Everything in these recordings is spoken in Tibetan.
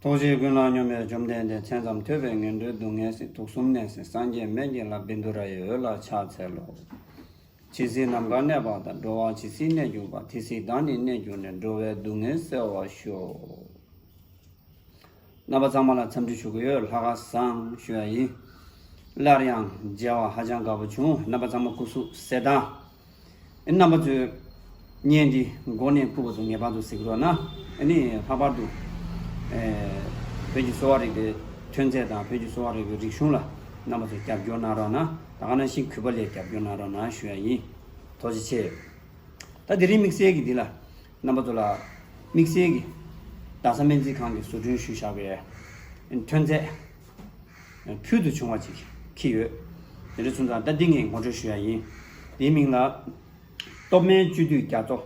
རྟོག་བཅས་ཀུན་བསླང་སྙོམས་པས་བཅོམ་ལྡན་འདས་མཚན་ཙམ་ཐོས་པས་ངན་འགྲོའི་སྡུག་བསྔལ་སྲིད་དུག་གསུམ་ནད་སྲིད་སངས་རྒྱས་མན་ཆད་ལ་བིནྡུ་ར་ཡི་འོད་ལ་ཕྱག་འཚལ་ལོ། ཇི་སྲིད་ནམ་མཁའ་གནས་པ་དང་འགྲོ་བ་ཇི་སྲིད་གནས་གྱུར་པ་དེ་སྲིད་བདག་ནི་གནས་གྱུར་ནས་འགྲོ་བའི་སྡུག་བསྔལ་བསལ་བར་ཤོག། རྣམ་པ་གཙང་མ་ལ་འཚམས་འདྲི་ཞུ་གི་ཡོད་ལྷ་དགའ་བསང་ཞུ་ཡ་ཡིན། སླར་ཡང་མཇལ་བ་ཧ་ཅང་དགའ་པོ་བྱུང་རྣམ་པ་གཙང་མ་སྐུ་གཟུགས་གསལ་དང། རྣམ་པ་མཛོད། བརྙན་འདི་མགོ་ནས་སྐུ་བ་སོ་ངེས་པར་དུ་གཟིགས་རོགས་གནང། ནི་ལྷག་པར་དུ། བོད་ཀྱི་གསོ་བ་རིག་པའི་ཐོན་རྫས་དང་བོད་ཀྱི་གསོ་བ་རིག་པའི་རིག་གཞུང་ལ་རྣམ་པ་ཚོས་རྒྱབ་སྐྱོར་གནང་རོགས་གནང་དགའ་གནང་ཞིང་གུས་པ་ལས་རྒྱབ་སྐྱོར་གནང་རོགས་གནང་ཞུ་ཡ་ཡིན། ཐོག་བྱེད་ཆེ། ད་དེ་རིང་དམིགས་བསལ་གྱི་འདི་ལ། རྣམ་པ་ཚོ་ལ་དམིགས་བསལ་གྱིས་རྡ་ས་སྨན་རྩིས་ཁང་གི་བཟོ་སྐྲུན་ཞུ་བཞག་པའི་ཐོན་རྫས་ཕུལ་དུ་བྱུང་བ་ཅིག་ཁྱི་ཡོད། དེ་འདྲ་བྱུང་ཙང་ད་ཏིང་ངེ་ངོ་སྤྲོད་ཞུ་ཡ་ཡིན། དེའི་མིང་ལ། སྟོབས་སྨན་བཅུད་བསྡུས་རྒྱ་མཚོ།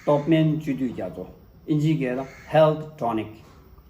སྟོབས་སྨན་བཅུད་བསྡུས་རྒྱ་མཚོ། ཨིན་ཇིའི་སྐད་ལ Health Tonic།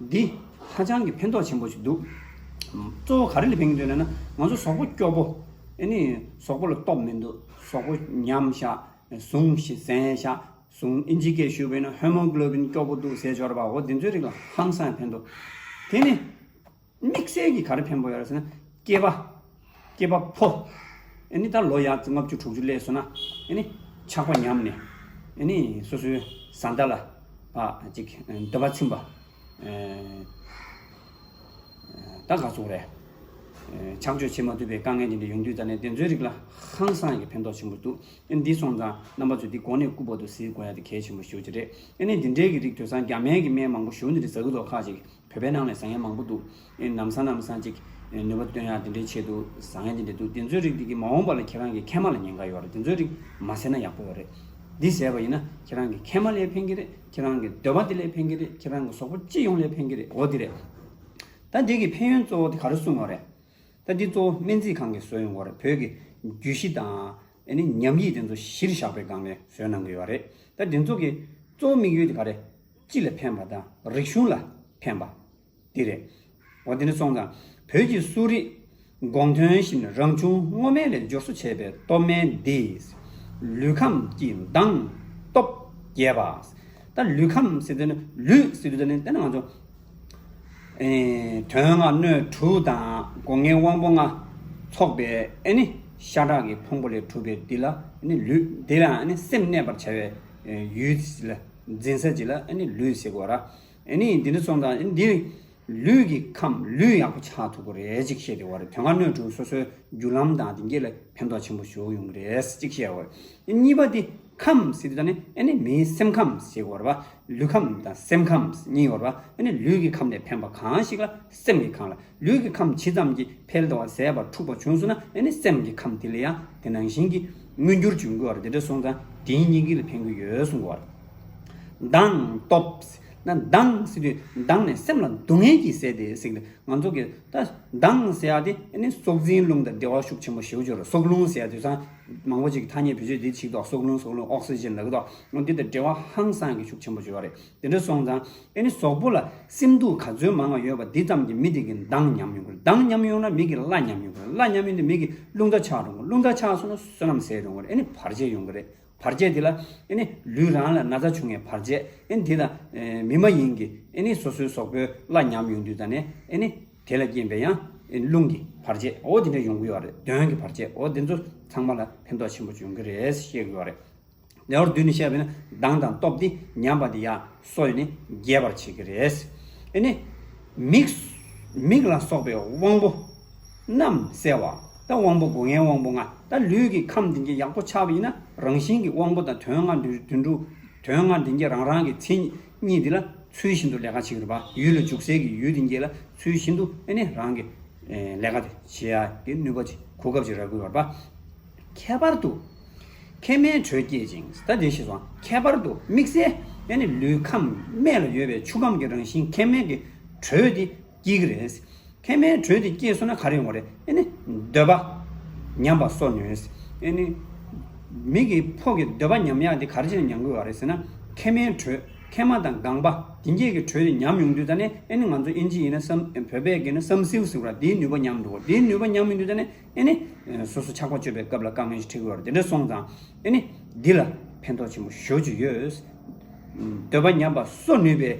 འདི། ཧ་ཅང་གི་ཕན་ཐོགས་ཆེན་པོ་ཞིག་འདུག། གཙོ་བོ་ག་རེ་ལ་ཕན་གྱི་འདུག་ན་ན། ང་ཚོ་ཟོག་པོ་སྐྱོ་པོ། ཨེ་ནི། ཟོག་པོ་ལ་སྟོབས་མི་འདུག། ཟོག་པོ་ཉམས་ཤ། ཟུངས། གཟན་ཤ། ཟུངས། ཨིན་ཇི་སྐད་ཞུས་པ་ཡིན་ན Hemoglobin སྐྱོ་པོ་འདུག་ཟེར་འབྱོར་པའོ་དེ་ཚོའི་རིགས་ལ་ཧམ་སངས་ཕན་འདུག། དེ་ནི། དམིགས་བསལ་གྱི་ག་རེ་ཕན་པོ་ཡོད་རེད་ཟེར་ན། སྐྱེས་པ། སྐྱེས་པ་ཕོ། ནི་ད་ལོ་ཡར་ལྔ་བཅུ་དྲུག་ཅུ་སླད་སོང་ན། ནི་ཆགས་པ་ཉམས་ནས། ནི་སོ་སོའི་བཟའ་ཟླ་ལ། ཅིག་འདོད་པ་ཚིམ་པ། ད་ག་ཚུགས་རེད། ཆགས་སྤྱོད་བྱེད་མ་ཐུབ་པའི་དཀའ་ངལ་འདི་འདྲ་ཡོང་དུས་ད་ནས་དེ་ཚོའི་རིགས་ལ་ཧང་སང་གི་ཕན་ཐོགས་ཆེན་པོ་འདུག་འདི་སོང་ཙང་རྣམ་པ་ཚོས་འདི་གོ་ནས་སྐུ་པོ་ཏོ་གཟིགས་དགོས་ཡ་དེ་གལ་ཆེན་པོ་ཞུ་རྒྱུ་རེད། ནི་འདི་འདྲའི་གི་རིགས་དུས་སང་རྒྱ་མའི་གི་སྨན་མང་པོ་ཞོ་འདི་འདྲ་ཟ་གི་འདུག་ཁག་ཅིག་བོད་པའི་ནང་ནས་བཟང་ངན་མང་པོ་འདུག་ནམ་སང་ནམ་སང་ཅིག་ནུས་པ་བཏོན་ཡག་དེ་འདྲའི་ཆེད་དུ་བཟང་ངན་དེ་འདྲ་འདུག་དེ་ཚོའི་རིགས་དེ་གི་མ་འོངས་པ་ལ་ཁྱེད་རང་གི་མཁལ་མ་ལ་ཉེན་ཁ་ཡོད་རེད་དེ་ཚོའི་རིགས་མ་ཟེར་ན་ཡག་པོ་བ་རེད། འདི་ཟེར་བ་ཡིན་ན་ཁྱེད་རང་གི་མཁལ་མ་ལས་ཕན་གི་རེད་ཁྱེད་རང་གི་འདོད་པ་དེ་ལས་ཕན་གི་རེད་ཁྱེད་རང་གི་ཟོག་པོ་སྤྱི་ཡོངས་ལས་ཕན་གི་རེད་འོ་དེ་རེད། ད་འདི་གི་ཕན་ཡོན་གཙོ་བོ་དེ་ག་རེ་གསུངས་བ་རེད། ད་འདི་གཙོ་བོ་སྨན་རྩིས་ཁང་གིས་བཟོས་ཡོང་བ་རེད་བོད་ཀྱི་རྒྱུད་བཞི་དང་ཉམས་ཡིག་དེ་ཚོ་གཞིར་བཞག་པའི་སྒང་ནས་བཟོས་གནང་གི་ཡོད་རེད། ད་དེ་ཚོ་གི་གཙོ་བོ་དམིགས་ཡུལ་དེ་ག་རེད། སྤྱི་ལ་ཕན་པ་དང་རིག་གཞུང་ལ་ཕན་པ། འདི་རེད། འོ་དེ་ནི་སོང་ཙང་བོད་ཀྱི་གསོ་རིག་དགོངས་དོན་བཞིན་རང་བྱུང་སྔོ་སྨན་ལས་སྦྱོར་གསོ་བྱས་པའི་སྟོབས་སྨན་འདིས། ལུས་ཁམས་ཀྱི་མདངས་སྟོབས་རྒྱས་པ། ད་ལུས་ཁམས་ཟེར་དུས་ནི་ལུས་ཟེར་དུས་ད་ནི་དེ་ནང་ཆུ། དོན་ལྔ་སྣོད་དྲུག་དང་སྒོ་ངའི་དབང་པོ་ལྔ། ཚོགས་པའི་ཨེ་ནི་ཤ་ཁྲག་གི་ཕུང་པོ་ལས་གྲུབ་པའི་འདི་ལ་ནི་ལུས་འདི་ལ་ནི་སེམས་གནས་པར་བྱ་བའི་ཡུལ། འཛིན་ས་གཅིག་ལ་ལུས་ཟེར་དགོས། འདི་འདྲ་རྩོམ་དང་འདི་ནི་ལུས་ཀྱི་ཁམས་ལུས་ཡག་པོ་ཆགས་ཐུབ་པ་རེད་ཅིག་བཤད་དེ་དོན་ལྔ་སྣོད་དྲུག་སོ་སོའི་རྒྱུ་ལམ་དང་དེ་འགྱེད་ལ་ཕན་ཐོགས་ཆེན་པོ་ཞུགས་ཡོང་གི་རེད་ཅིག་བཤད་དགོས། གཉིས་པ་འདི་ཁམས་ཟེར་དེ་དང་ནི་མིའི་སེམས་ཁམས་ཟེར་དགོས། ལུས་ཁམས་དང་སེམས་ཁམས་གཉིས་ཡོད། ལུས་ཀྱི་ཁམས་ལས་ཕན་པ་གང་ཞིག་ལ་སེམས་ཀྱི་ཁམས་ལ་ལུས་ཀྱི་ཁམས་ཇི་ཙམ་གྱིས་འཕེལ་དང་བ་ཟད་པ་འཁྲུགས་པ་བྱུང་སོང་ན་ནི་སེམས་ཀྱི་ཁམས་དེ་ལ་ཡང་དེ་ནང་བཞིན་གྱི་མངོན་གྱུར་འབྱུང་དགོས་བར་དེ་འདྲ་སོང་ཙང་དེའི་སྙིང་གི་ལ་ཕན་གྱི་ཡོད་གསུང་གོ། མདངས། སྟོབས། ན། མདངས། དུས་མདངས་ནི་སེམས་ལ་སྡུག་བསྔལ་གྱིས་བསད་དེ་སྲེག་ལ་ང་ཚོ་གི་ད་མདངས་ཟེར་ཡག་དེ་ནི་སྲོག་འཛིན་རླུང་དང་འབྲེལ་བ་ཤུགས་ཆེན་པོ་ཞེའུ་ཅོར་སྲོག་རླུང་ཟེར་ཡག་དུས་སང་མང་པོ་ཅིག་གི་ཐ་སྙད་བེད་སྤྱོད་དེ་ཆིག་ཐོག་སྲོག་རླུང་སྲོག་རླུང Oxygen ལ་གི་ཐོག་འདི་དང་འབྲེལ་བ་ཧང་སང་གི་ཤུགས་ཆེན་པོ་བྱོས་བ་རེད། དེ་འདྲ་སོང་ཙང་ཨེ་ནི་ཟོག་པོ་ལ་སེམས་སྡུག་ག་ཚོད་མང་བ་ཡོད་པ་འདི་ཙམ་གྱིས་མི་དེ་གི་མདངས་ཉམས་ཡོང་གི་རེད་མདངས་ཉམས་ཡོང་ན་མི་གི་བླ་ཉམས་ཡོང་གི་རེད་བླ་ཉམས་ཡོང་དུས་མི་གི་རླུང་རྟ་ཆགས་འགྲོ་གི་རླུང་རྟ་ཆགས་སོང་ན་བསོད་ནམས་ཟད་འགྲོ་གི་རེད་ཨེ་ནི་བར་ཆད་ཡོང་གི་རེད་བར་ཆད་དེ་ལ་ཨེ་ནི་ལུས་རང་ལ་ན་ཚ་བྱུང་ངས་བར་ཆད་ཨེ་ནི་དེ་ལ་མི་མ་ཡིན་གི་ཨེ་ནི་སོ་སོའི་ཟོག་པོའི་བླ་ཉམས་ཡོང་དུས་ད་ནས་ཨེ་ནི་དེ་ལ་རྐྱེན་པས་ཡང་ཨེ་ནི་རླུང་གི་བར་ཆད་འོ་དེ་འདྲ་ཡོང་གི་ཡོད་རེད་གདོན་གི་བར་ཆད་འོ་འདི་ཚོ་ཚང་མ་ལ་ཕན་ཐོགས་ཆེན་པོ་འབྱུང་གི་རེད་ཤེས་གི་ཡོད་རེད། ལེའུ་བདུན་ནས་བཤད་པའི་གདངས་དང་སྟོབས་དེ་ཉམས་པ་དེ་ཡང་སོ་ཡོད་ནས་རྒྱས་པར་བྱེད་ཀྱི་རེད། དེ་ནས། མིག་ལ་སོགས་པའི་དབང་པོ་རྣམས་གསལ་བ་དང་དབང་པོ་སྒོ་ལྔའི་དབང་པོ་ལྔ་དང་ལུས་ཀྱི་ཁམས་བདུན་བརྒྱ་ཡག་པོ་ཆགས་པ་ཡིན་ན་རང་བཞིན་གྱི་དབང་པོ་དང་དོན་ལྔ་དུས་འགྲུབ། དོན་ལྔ་དེ་ཉིད་རང་རང་གི་མཚན་ཉིད་དེ་ལ་ཚུལ་བཞིན་དུ་ལས་ཀ་བྱེད་ཀྱི་རུང་བ་ཡུལ་ལ་འཇུག་སའི་གི་ཡུལ་དེ་ཉིད་ལ་ཚུལ་བཞིན་དུ་རང་གི་ལས་ཀ་དེ་བྱེད་ཀྱི་ནུས་པ་གོ་སྐབས་ཅིག་རག་དགོས་པར་ཁྱད་པར་དུ། མཁལ་སྨན་དྲོད་བསྐྱེད་ཅིང་ཟད་དེ་ཞེས་སོགས་ཁྱད་པར་དུ་དམིགས་བསལ་ཡང་ནི་ལུས་ཁམས་སྨད་ལ་ཡོད་པའི་ཆུ་ཁམས་ཀྱི་རང་བཞིན་མཁལ་སྨན་གྱི་དྲོད་དེ་སྐྱེ་གི་རེད། མཁལ་སྨན་དྲོད་དེ་སྐྱེས་སོང་ན་ག་རེ་ཡོང་བ་རེད་ཡང་ནི་འདོད་པ་ཉམས་པ་སོགས་ནུས། ཡང་ནི། མིག་གི་ཕོག་གི་འདོད་པ་ཉམས་ཡག་དེ་ག་རེ་བྱས་ན་ཉམས་དགོས་བ་རེད་ཟེར་ན། མཁལ་སྨན་དྲོད་མཁལ་མ་དང་སྒང་པ་དེ་འགྱེད་ཀྱི་དྲོད་དེ་ཉམས་ཡོང་དུས་ད་ནི་ཡང་ནི་ང་ཚོ་དབྱིན་ཇི་ཡིན་ན་བསམ་བོད་པས་ཀྱིས་ན་བསམ་སེའུ་ཟེར་བ་དེའི་ནུས་པ་ཉམས་འདུག་གོ་དེའི་ནུས་པ་ཉམས་མི་འདུག་ད་ནི་ཨེ་ནི། སོ་སོ་ཆགས་པ་གཅོད་པའི་སྐབས་ལ་བཀའ་མོལ་ཞིག་འཁྲིགས་ལོར་དེ་འདྲ་སོང་ཙང། ཨེ་ནི། འདི་ལ་ཕན་ཐོགས་ཆེན་པོ་ཞོ་བཅུ་ཡོད། འདོད་པ་ཉམས་པ་གསོ་ནུས་པའི།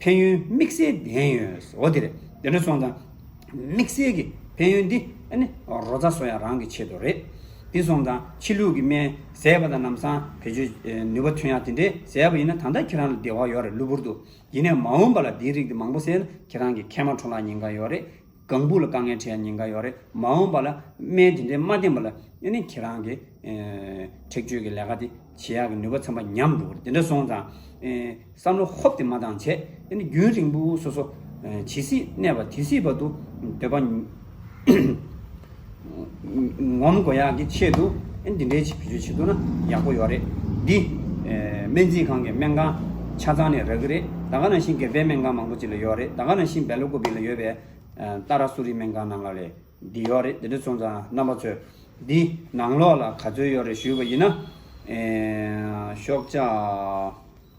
ཕན་ཡོན་དམིགས་བསལ་ལྡན་ཡོད། འོ་དེ་རེད། དེ་འདྲ་སོང་ཙང། དམིགས་བསལ་གྱི་ཕན་ཡོན་འདི། ཨེ་ནི། རོ་བཙའ་སོགས་ཡང་རང་གི་ཆེད་དུ་རེད། འདི་སོང་ཙང་ཕྱི་ལུགས་ཀྱི་སྨན་ཟས་པ་དང་ནམ་སང་བེད་སྤྱོད་ནུས་པ་ཐོན་ཡག་དེ་འདྲའི་ཟས་པ་ཡིན་ན་ད་ལྟ་ཁྱེད་རང་ལ་བདེ་བ་ཡོད་རེད་གློ་བུར་དུ། ཡིན་ནའི་མ་འོངས་པ་ལ་འདིའི་རིགས་འདི་མང་པོ་བཟས་ན་ཁྱེད་རང་གི་མཁལ་མ་འཁྲུངས་ལ་ཉེན་ཁ་ཡོད་རེད། གང་བུ་ལ་དཀའ་ངལ་འཕྲད་ཉེན་ཁ་ཡོད་རེད་མ་འོངས་པ་ལ་སྨན་དེ་འདྲའི་མ་བསྟེན་པ་ལ་ཡང་ནི་ཁྱེད་རང་གི་ཁྲེགས་ཆོད་ཀྱི་ལས་ཀ་དེ་བྱེད་ཡག་གི་ནུས་པ་ཚང་པ་ཉམས་འགྲོ་གི་རེད་དེ་འདྲ་སོང་ཙང་བསམ་བློ་ཧོབ་དེ་མ་བཏང་བྱས་ཡང་ནི་རྒྱུན་རིང་པོ་སོ་སོ་ཇི་སྲིད་གནས་པ་དེ་སྲིད་བར་དུ་འདོད་པ། ངོམ་དགོས་ཡག་གི་ཆེད་དུ་འདི་འདྲའི་བྱེད་བྱེད་ཐུབ་ན་ཡག་པོ་ཡོད་རེད་འདི། སྨན་རྩིས་ཁང་གི་སྨན་ཁང་ཆ་ཚང་ནས་རག་གི་རེད་ད་ག་ནང་བཞིན་སྒེར་པའི་སྨན་ཁང་མང་པོ་ཅིག་ལ་ཡོད་རེད་ད་ག་ནང་བཞིན་སྦེ་ལོ་ཀོ་བི་ལ་ཡོད་པའི། ཏཱ་ར་སུ་རི་སྨན་ཁང་ནང་ལ་ལས་འདི་ཡོད་རེད་འདི་འདྲ་སོང་ཙང་རྣམ་པ་ཚོས་འདི་ནང་ལོགས་ལ་ག་ཚོད་ཡོད་རེད་ཞུས་པ་ཡིན་ན། ཤོག་ལྕགས།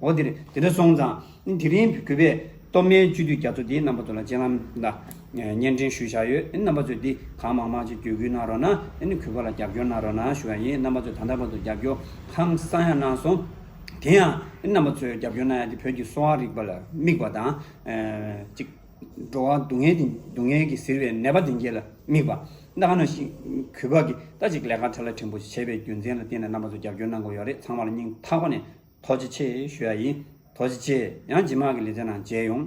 འོ་དེ་རེད་དེ་འདྲ་སོང་ཙང་དེ་རིང་གུས་པས་སྟོད་སྨད་བཅུ་དུས་རྒྱ་མཚོ་འདིའི་རྣམ་པ་ཚོ་ལ་སྤྱན་ལམ་ལ་བརྙན་འཕྲིན་ཞུས་བཞག་ཡོད་རྣམ་པ་ཚོས་འདི་གང་མང་མང་ཅིག་བརྒྱུད་སྐུལ་གནང་རོགས་གནང་གུས་པ་ལ་རྒྱབ་སྐྱོར་གནང་རོགས་གནང་ཞུ་བ་ཡིན་རྣམ་པ་ཚོས་ད་ལྟ་བར་དུ་རྒྱབ་སྐྱོར་ཧང་སང་ཡང་གནང་སོང་དེ་ཡང་རྣམ་པ་ཚོས་རྒྱབ་སྐྱོར་གནང་ཡ་དེ་བོད་ཀྱི་གསོ་བ་རིག་པ་ལ་དམིགས་པ་དང་གཅིག་འགྲོ་བ་སྡུག་བསྔལ་དེ་སྡུག་བསྔལ་གྱི་ཟིལ་བའི་ནད་པ་དེ་འགྱེད་ལ་དམིགས་པ་ད་ག་ནང་ཞིག་གུས་པ་གིས་ད་ཅིག་ལས་ཀ་ཁྲ་ལ་ཕྲན་བུ་བྱས་པའི་རྒྱུ་མཚན་ལ་བརྟེན་ནས་རྣམ་པ་ཚོས་རྒྱབ་སྐྱོར་གནང་དགོས་ཡོད་རེད་ཚང་མར་སྙིང་ཐག་པ་ནས། ཐོག་ཅི་ཆེ་ཞུ་ཡ་ཡིན། ཐོག་ཅི་ཆེ་ཡང་ཇི་མ་གི་ལི་ཐེ་ནང་མཇལ་ཡོང།